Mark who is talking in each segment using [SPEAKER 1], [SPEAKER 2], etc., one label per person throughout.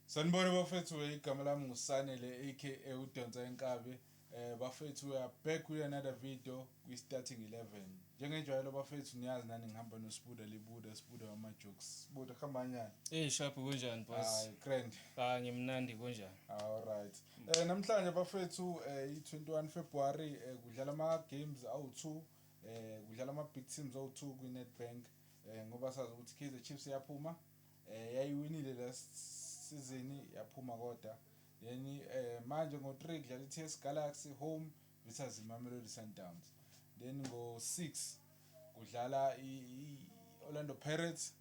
[SPEAKER 1] Sanibona bafethu igama lami ngusanele aka udonsa inkabi eh bafethu we are back with another video kwi-starting 11 njengenjwayelo bafethu niyazi nani ngihamba nosibuda libuda sibuda wama-jokes sibuda kuhambanyana eyi shaphi kunjani bos
[SPEAKER 2] grand ah
[SPEAKER 1] ngimnandi
[SPEAKER 2] kunjani alright um
[SPEAKER 1] eh, namhlanje bafethu um eh, i-21 february um kudlala ama-games awu-two um kudlala ama-big teams awu-two kwi-netbank um ngoba sazi ukuthi i-kaizer chiefs iyaphuma Yayiwinile last season yaphuma koda then eh, manje ngo-3 kudlala i-TS Galaxy home visas iMamelodi Sundowns then ngo-6 kudlala i-Orlando Pirates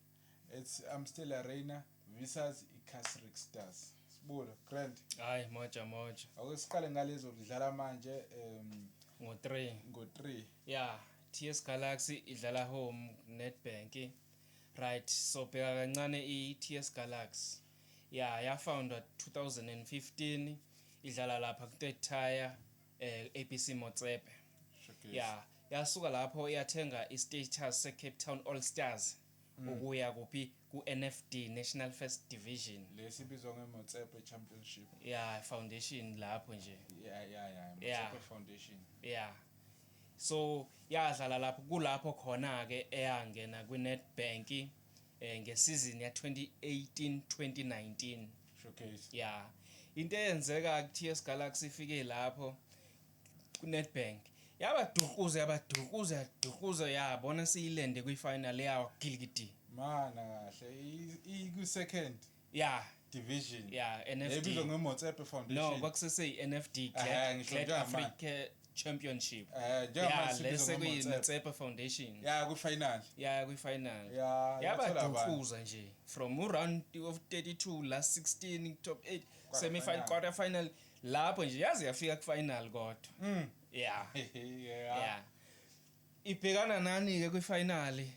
[SPEAKER 1] at Amstel Arena visas i-Casric Stars sibulo grand hayi moja
[SPEAKER 2] moja ake siqale
[SPEAKER 1] ngalezo kudlala manje um ngo-3 ngo-3
[SPEAKER 2] ya yeah. TS Galaxy idlala home Nedbank Right so bheka kancane i TS Galaxy ya ya foundwa 2015 idlala lapha ku third tier eh, ABC Motsepe ya yasuka lapho yathenga i status se Cape Town All Stars mm. ukuya kuphi ku NFD National First Division lesi bizwa nge
[SPEAKER 1] Motsepe Championship ya foundation
[SPEAKER 2] lapho nje ya ya ya
[SPEAKER 1] Motsepe Foundation ya
[SPEAKER 2] So yadlala lapho kulapho khona ke eyangena kwiNedbank eh ngesizini ya-2018-2019. Showcase. Yeah.
[SPEAKER 1] Into
[SPEAKER 2] eyenzeka kuTS Galaxy ifike lapho kuNedbank. Yabadukuza yabadukuza yadukuza yabona siyilende kwifinal yawa gilikidi. Mana kahle
[SPEAKER 1] ikwi second. Yeah. Division. Yeah, NFD. Yayibizwa
[SPEAKER 2] ngeMotsepe
[SPEAKER 1] Foundation. No, kwakusese iNFD
[SPEAKER 2] eh, Glad, Glad Africa Championship. Eh, yeah, lese kuyiMotsepe Foundation. Yeah, ku final. Yeah, ku final. Yeah, yabadunkuza nje from round of 32 last 16 top 8 semi final quarter final lapho nje yaze yafika ku final kodwa. Mm. Yeah. yeah. Yeah. Ibhekana nani ke kwi finale?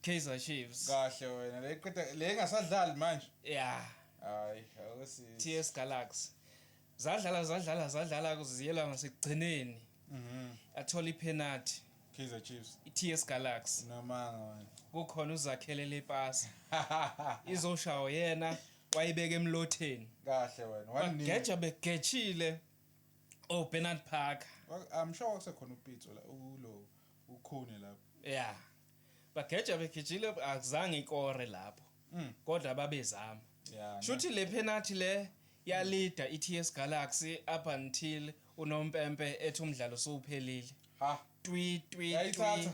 [SPEAKER 2] Kaizer Chiefs. Kahle wena le
[SPEAKER 1] qeda le ngasadlali manje. Yeah. Hayi, awusi.
[SPEAKER 2] TS Galaxy. Zadlala zadlala zadlala kuziyela ngasekugcineni. Mhm. Athola ipenalty. Kaizer Chiefs.
[SPEAKER 1] ITS Galaxy.
[SPEAKER 2] Namanga wena.
[SPEAKER 1] Kukhona uzakhele
[SPEAKER 2] le pass. Izoshawo yena wayibeka emlotheni. Kahle wena.
[SPEAKER 1] Wanini. Geja
[SPEAKER 2] begechile. Oh Bernard Parker. I'm sure wakusekhona
[SPEAKER 1] upitso la ulo. ukhone lapho yeah
[SPEAKER 2] bageja begijile akuzange ikore lapho mm. kodwa babezama yeah, shuthi le penalty le yalida mm. iTS Galaxy up until unompempe ethi umdlalo sowuphelile ha twi twi twi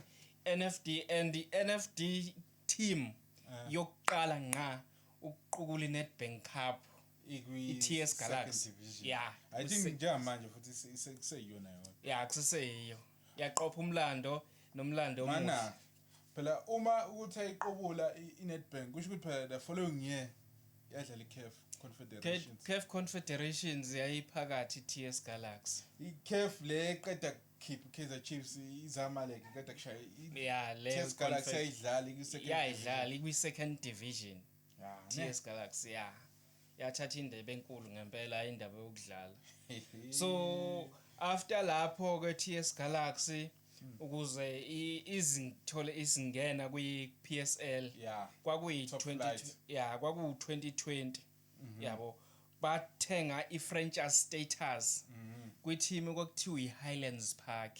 [SPEAKER 2] NFD and the NFD team eh. yokuqala nqa ukuqukula iNedbank Cup iTS Galaxy yeah i think
[SPEAKER 1] njengamanje futhi sekuyona yona yeah kuseseyiyo
[SPEAKER 2] Yaqopha umlando nomlando omuhle. Mana phela
[SPEAKER 1] uma ukuthi ayiqobula iNedbank kusho ukuthi phela the following year yadlala iCAF Confederations. CAF Confederations
[SPEAKER 2] yayiphakathi TS Galaxy. ICAF le
[SPEAKER 1] qeda khipha Kaizer Chiefs izamale ke qeda kushaya. Yeah, le TS Galaxy
[SPEAKER 2] ayidlali kwi
[SPEAKER 1] second. Yeah, idlali kwi second
[SPEAKER 2] division. Yeah, TS Galaxy yeah. yathatha indebe enkulu ngempela hayi indaba yokudlala so after lapho ke TS Galaxy ukuze izithole isingena kwi PSL kwakuyi 20 yeah kwaku 2020 mhm. yabo bathenga i franchise status mhm. kwi team okuthiwa i Highlands Park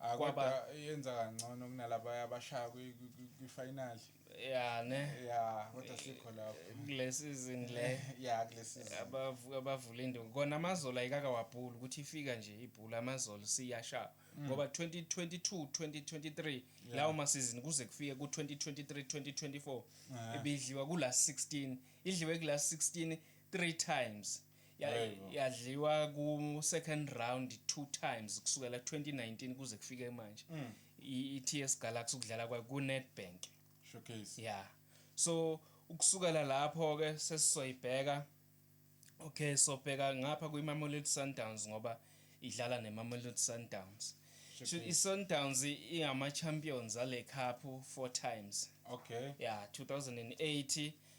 [SPEAKER 2] Ah kwaba
[SPEAKER 1] yenza kangcono kunalaba abashaya kwi final. Yeah ne. Yeah kodwa sikho lapho. Kule season
[SPEAKER 2] le. Yeah kule season.
[SPEAKER 1] Abavuka abavula
[SPEAKER 2] induku. Kona amazola ayikaka wabhula ukuthi ifika nje ibhula amazola siyasha. Mm. Ngoba 2022 2023 lawo ma season kuze kufike ku 2023 2024 ibidliwa kula 16 idliwe kula 16 three times. yadliwa ku second round two times kusukela 2019 kuze kufike manje mm. i-TS Galaxy ukudlala kwayo ku Nedbank showcase yeah
[SPEAKER 1] so
[SPEAKER 2] ukusukela lapho ke sesizoyibheka okay so bheka ngapha kwi Mamelodi Sundowns ngoba idlala ne Mamelodi Sundowns so i Sundowns ingama champions ale cup four times okay yeah 2008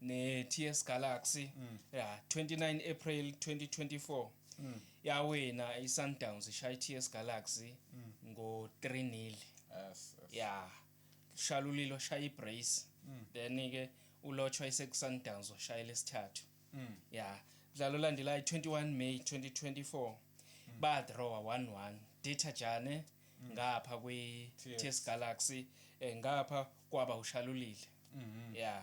[SPEAKER 2] neTS Galaxy mm. yeah 29 April 2024 mm. yawina iSundowns ishaya iTS Galaxy mm. ngo 3-0 yes, yes.
[SPEAKER 1] yeah
[SPEAKER 2] shalulilo shaya iBrace mm. then ke ulotshwa isekusundowns washaya lesithathu mm. yeah mdlalo olandelayo 21 May 2024 mm. ba draw 1-1 Data Jane mm. ngapha kwi TS Galaxy eh, ngapha kwaba ushalulile mm -hmm. yeah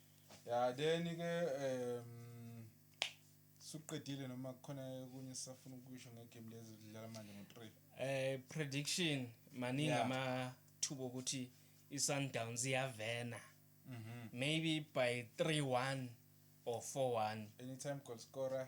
[SPEAKER 2] Ya
[SPEAKER 1] then ke um suqedile noma kukhona okunye sisafuna ukusho ngegame lezi lidlala manje ngo-3. Eh prediction
[SPEAKER 2] maningi yeah. amathuba okuthi iSundowns iyavena. Mhm. Maybe by 3-1 or 4-1. Anytime goal scorer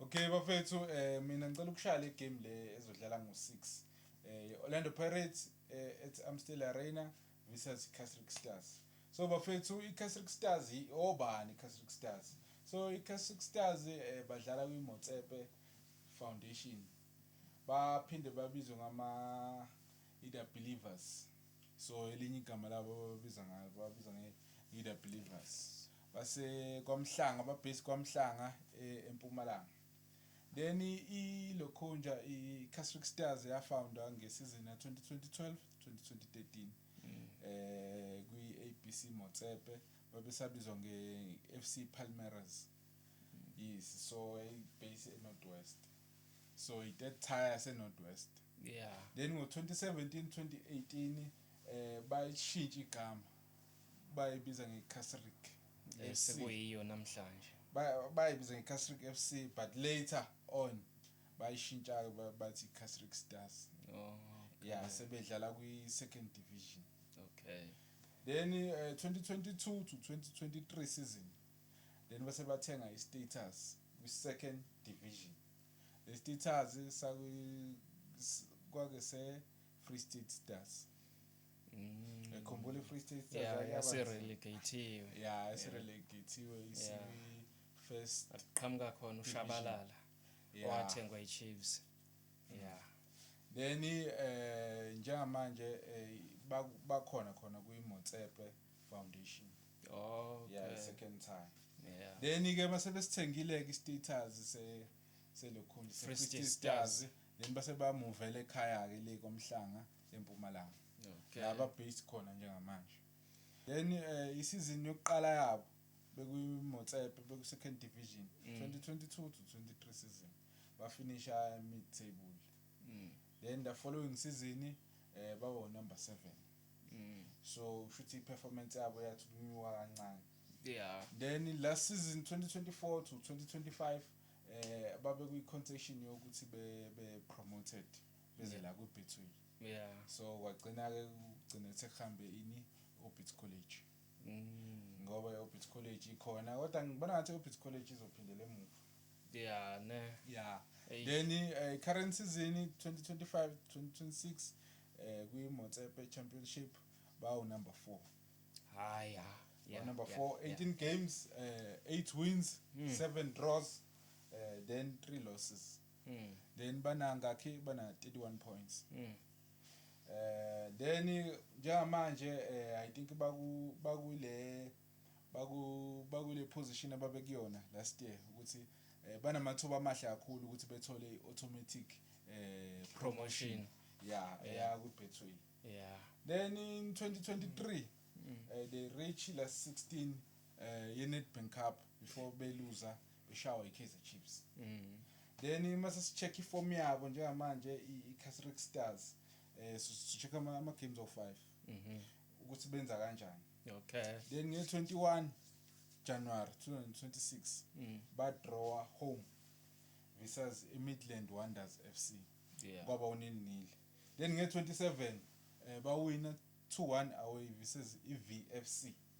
[SPEAKER 2] Okay
[SPEAKER 1] bafethu eh mina ngicela ukushaya le game le ezodlala ngo-6 eh Orlando Pirates eh, at Amstel Arena versus Casric Stars so bafethu i-Casric Stars obani i-Casric Stars so i-Casric Stars eh, badlala kwi-Motsepe Foundation baphinde babizwe ngama Ida Believers so elinye igama labo babiza ngalo babiza nge-Ida Believers Base kwaMhlanga ba base kwaMhlanga e, eMpumalanga. Then i Lokhunja i Casric Stars ya foundwa nge season ya 2012-2013 mm. eh kwi ABC Motsepe babesabizwa nge FC Palmeiras. Mm. Yes so a base e Northwest. So i third tire se Northwest. Yeah. Then
[SPEAKER 2] ngo 2017-2018
[SPEAKER 1] eh bayishintsha igama. bayibiza ngeCasric eh, FC sekuyiyo namhlanje
[SPEAKER 2] Ba- bayibiza
[SPEAKER 1] ngeCasric FC but later on bayishintsha-ke ba- bathi iCasric Stars oh
[SPEAKER 2] ya sebedlala
[SPEAKER 1] kwi-second division okay
[SPEAKER 2] then
[SPEAKER 1] eh, 2022 to 2023 season then base bathenga i-status kwi-second division le status sakwi- s- kwake se-free state stars ngikhumbula i-free state yasirelegathiwe
[SPEAKER 2] ya
[SPEAKER 1] esirelegathiwe isi-first aqhamuka khona
[SPEAKER 2] ushabalala owathengwa i-chiefs ya then
[SPEAKER 1] eh njengamanje eh, bakhona khona kwi-motsepe foundation oh okay.
[SPEAKER 2] yeah second
[SPEAKER 1] time yeah then ke
[SPEAKER 2] base
[SPEAKER 1] besithengile ke status se selokhunje se
[SPEAKER 2] stars then
[SPEAKER 1] base bamuvela ekhaya ke le komhlanga eMpumalanga okay. la
[SPEAKER 2] babase khona
[SPEAKER 1] njengamanje then eh, isizini yokuqala yabo bekuyimotsepe beku-second division mm. 2022 to 23 season bafinisha mid table mm. then the following season um eh, bawo number seven mm. so kusho ukuthi i-performance yabo yathi kunyuka kancane yeah then
[SPEAKER 2] last
[SPEAKER 1] season 2024 to 2025 eh babe kwi-concession yokuthi be, be promoted beze la kwi-betway yeah so
[SPEAKER 2] kwagcina-ke
[SPEAKER 1] kugcine sekuhambe ini orbit college mm. ngoba i-orbit college ikhona kodwa ngibona ngathi i-orbit college izophindela emuva yeah ne
[SPEAKER 2] yeah hey.
[SPEAKER 1] then uh,
[SPEAKER 2] current
[SPEAKER 1] season 2025 2026 uh, kwi-motsepe championship bawu number four hayi yeah.
[SPEAKER 2] yeah, number yeah, four 18 yeah.
[SPEAKER 1] games uh, eight wins mm. seven draws uh, then three losses Mm. Then bana ngakhi bana 31 points. Mm. Eh then njengamanje eh I think baku bakule baku bakule position ababekuyona last year ukuthi eh banamathuba amahle kakhulu ukuthi bethole iautomatic eh promotion. Yeah, yeah ku Betway. Yeah. Then
[SPEAKER 2] in
[SPEAKER 1] 2023 mm. uh, they reached last 16 eh yeNedbank Cup before beluza beshawa iKaizer Chiefs mm. then mase sicheck iform yabo njengamanje iCasric Stars eh sicheck ama, ama games of 5 mhm ukuthi benza kanjani okay then
[SPEAKER 2] nge 21
[SPEAKER 1] January 2026 mm. ba draw home versus iMidland Wonders FC yeah. kwaba unil
[SPEAKER 2] nil
[SPEAKER 1] then nge 27 eh bawina 2-1 away versus iVFC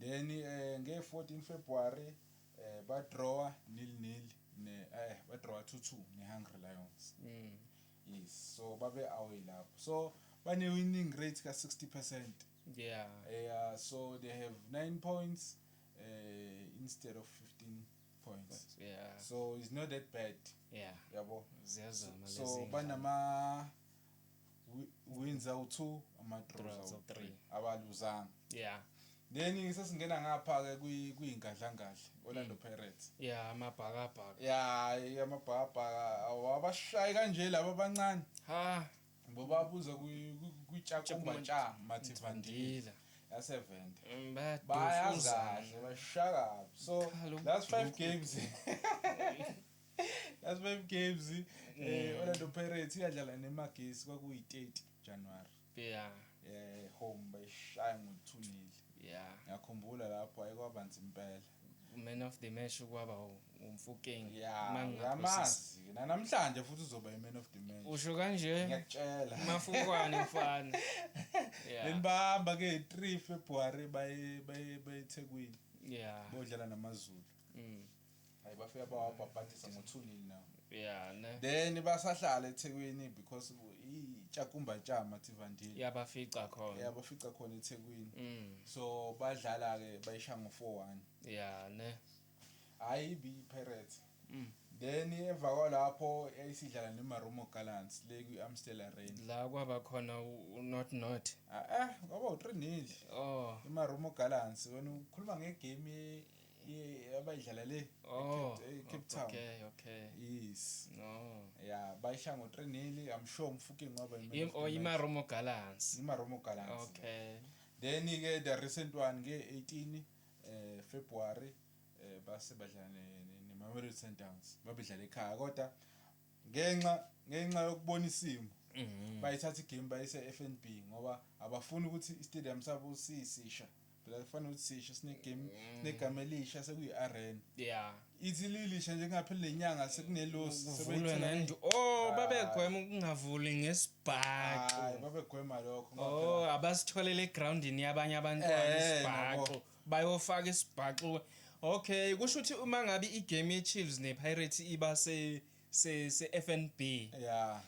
[SPEAKER 1] Then nge 14 February eh ba drawer nil nil ne eh ba drawer 2-2 ne Hungry Lions. Mm. Yes, so babe away lapho. So bane winning rate ka 60%. Yeah. Yeah,
[SPEAKER 2] so
[SPEAKER 1] they have 9 points eh instead of 15 points. Yeah. So
[SPEAKER 2] it's not that
[SPEAKER 1] bad. Yeah. Yabo.
[SPEAKER 2] Ziyazama
[SPEAKER 1] lezi. So
[SPEAKER 2] banama
[SPEAKER 1] wins awu-two ama-draws awu-three abaluzanga yeah
[SPEAKER 2] then
[SPEAKER 1] sesingena ngapha-ke kuyingadlangadla orlando mm. pirates ya amabhakabhaka
[SPEAKER 2] ya
[SPEAKER 1] amabhakabhaka awabashayi kanje laba abancane ha ngoba abuza kwitshakumbatsha mathivandila yasevenda mm, bayazadle bashakabi so last five games last five games eh mm. Orlando Pirates iyadlala nemagesi kwakuyi 30 January
[SPEAKER 2] yeah eh home
[SPEAKER 1] bayishaya ngo 2 nil yeah
[SPEAKER 2] ngiyakhumbula lapho
[SPEAKER 1] ayikwaba nzima impela man of the
[SPEAKER 2] match kwaba umfukeng
[SPEAKER 1] ngamazi namhlanje futhi uzoba i-man of the match usho kanje
[SPEAKER 2] ngiyakutshela
[SPEAKER 1] mafukwane
[SPEAKER 2] mfana benibamba ke
[SPEAKER 1] 3 February baye baye eThekwini yeah bodlala
[SPEAKER 2] namazulu
[SPEAKER 1] mm. Hayi bafika bawabhabhadisa ngothulile nawo. Yeah, ne. Then
[SPEAKER 2] basahlala
[SPEAKER 1] eThekwini because iTshakumba Tshama Tivandile. Yabafica khona.
[SPEAKER 2] Yeah, bafica khona eThekwini.
[SPEAKER 1] Mm. So badlala ke bayisha ngo 4-1. Yeah, ne.
[SPEAKER 2] Hayi ibi
[SPEAKER 1] Pirates. Mm. Then emva kwalapho yayisidlala neMarumo Gallants le kwi-Amstel Arena. La kwaba khona
[SPEAKER 2] u- u- not not. Ah, ah, kwaba
[SPEAKER 1] u-3 nil. Oh. IMarumo
[SPEAKER 2] Gallants
[SPEAKER 1] wena ukhuluma ngegame ye- abayidlala le Oh, eCape- ecape town okay, okay. yes No. ya
[SPEAKER 2] bayisha
[SPEAKER 1] ngo-three nili i'm sure umfuki ngoba Im- oh, imaromo
[SPEAKER 2] gallants imaromo galans
[SPEAKER 1] okay
[SPEAKER 2] then-ke
[SPEAKER 1] the recent one nge-18 um february um base badlala ne- ne- nemamelodi sundowns babedlala ekhaya kodwa ngenxa ngenxa yokubona isimo Mhm. bayithatha igame bayise-f n b ngoba abafuni ukuthi istadium sabo sisisha phela kufanele ukuthi sisho sinegame mm. negama elisha sekuyi-arena yeah ithi
[SPEAKER 2] lilisha
[SPEAKER 1] nje kungapheli nenyanga sekunelosi kuvulwe ngendu
[SPEAKER 2] oh babegwema ukungavuli ngesibhaxo hayi babegwema
[SPEAKER 1] lokho oh abasitholele
[SPEAKER 2] egroundini yabanye abantwana eh, isibhaxo bayofaka isibhaxo okay kusho ukuthi uma ngabe igame yeChiefs nePirates iba se se se FNB
[SPEAKER 1] yeah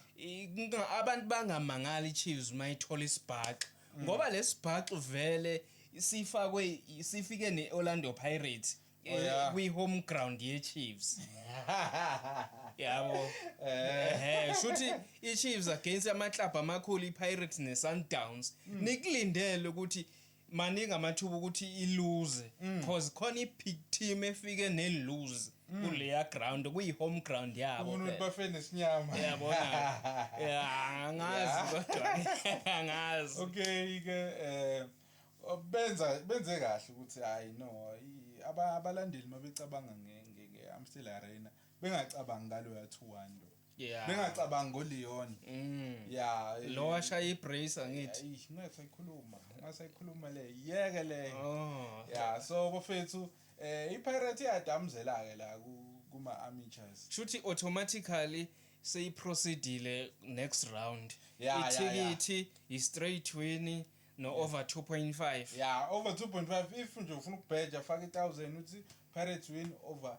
[SPEAKER 2] abantu bangamangali iChiefs mayithola isibhaxu mm. ngoba lesibhaxu vele sifakwe sifike neOrlando Pirates oh, eh, kwi home ground ye Chiefs yabo eh, eh shuthi iChiefs against ama club amakhulu iPirates neSundowns mm. nikulindele ukuthi maningi amathuba ukuthi iluze mm. cause khona i-big team efike neluze mm. kuleya ground kuyi-home ground yabobafenesinyama
[SPEAKER 1] yabona
[SPEAKER 2] angazi kodwa angazi okay ke
[SPEAKER 1] um benza benze kahle ukuthi hayi no abalandeli mabecabanga nge-amstel arena bengacabangi ngaloya two one lo Yeah. bengacabangi
[SPEAKER 2] ngoleon
[SPEAKER 1] Mm. ya eh, Lo washaya
[SPEAKER 2] ibrace angithi. ayi, ungasayikhuluma
[SPEAKER 1] ungasayikhuluma le yeke le Oh. ya
[SPEAKER 2] so bafethu
[SPEAKER 1] eh ipirate iyadamzela ke la ku- kuma amateurs Shuthi automatically
[SPEAKER 2] seyiproceedile next round. Yeah, yeah, Ithikithi
[SPEAKER 1] i
[SPEAKER 2] straight win no over 2.5. ya over 2.5
[SPEAKER 1] if nje ufuna ukubheja faka i1000 uthi pirates win over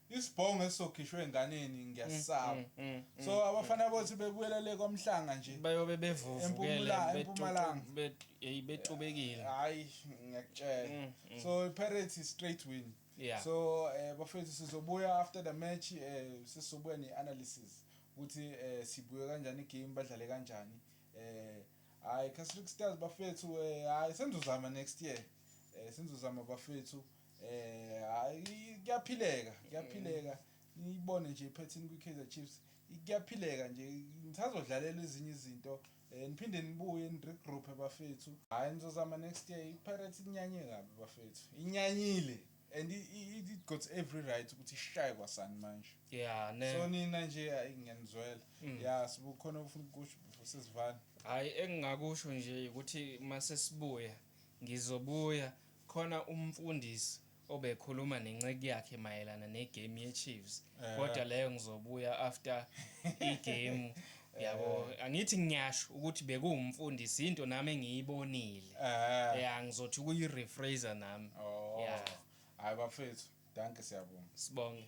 [SPEAKER 1] Isbhongo esizokhishwa enganeni ngiyasaba. So abafana bothi bebuyela le kwamhlanga nje. Bayobe bevuvukele
[SPEAKER 2] empumalanga.
[SPEAKER 1] Bet hey
[SPEAKER 2] betubekile. Hayi
[SPEAKER 1] ngiyakutshela. So iPirates is straight win. Yeah. So
[SPEAKER 2] eh bafethu
[SPEAKER 1] sizobuya after the match eh sizobuya ne analysis ukuthi eh sibuye kanjani game badlale kanjani. Eh hayi Casric Stars bafethu eh hayi senzozama next year. Eh senzozama bafethu. Eh hayi kuyaphileka, kuyaphileka. Niyibone nje iphethini kwiKaizer Chiefs. Kuyaphileka nje ngisazodlalela ezinye izinto. Eh niphinde nibuye ni regroup bafethu. Hayi nizozama next year. IPirates inyanye kabi bafethu. Inyanyile and it got every right ukuthi ishaye kwasani manje. Yeah ne. So
[SPEAKER 2] nina nje hayi
[SPEAKER 1] ngiyanizwela. Mm. Yeah sibukhona ufuna ukusho sesivana. Hayi engingakusho
[SPEAKER 2] nje ukuthi mase sibuya ngizobuya Khona umfundis obekhuluma nenceku yakhe mayelana ne game ye chiefs kodwa leyo ngizobuya after I game yabo angithi ngiyasho ukuthi bekuwumfundisi into nami engiyibonile ya ngizothi kuyi refraser
[SPEAKER 1] nami ya
[SPEAKER 2] hayi bafethu
[SPEAKER 1] dankie
[SPEAKER 2] siyabonga
[SPEAKER 1] sibonge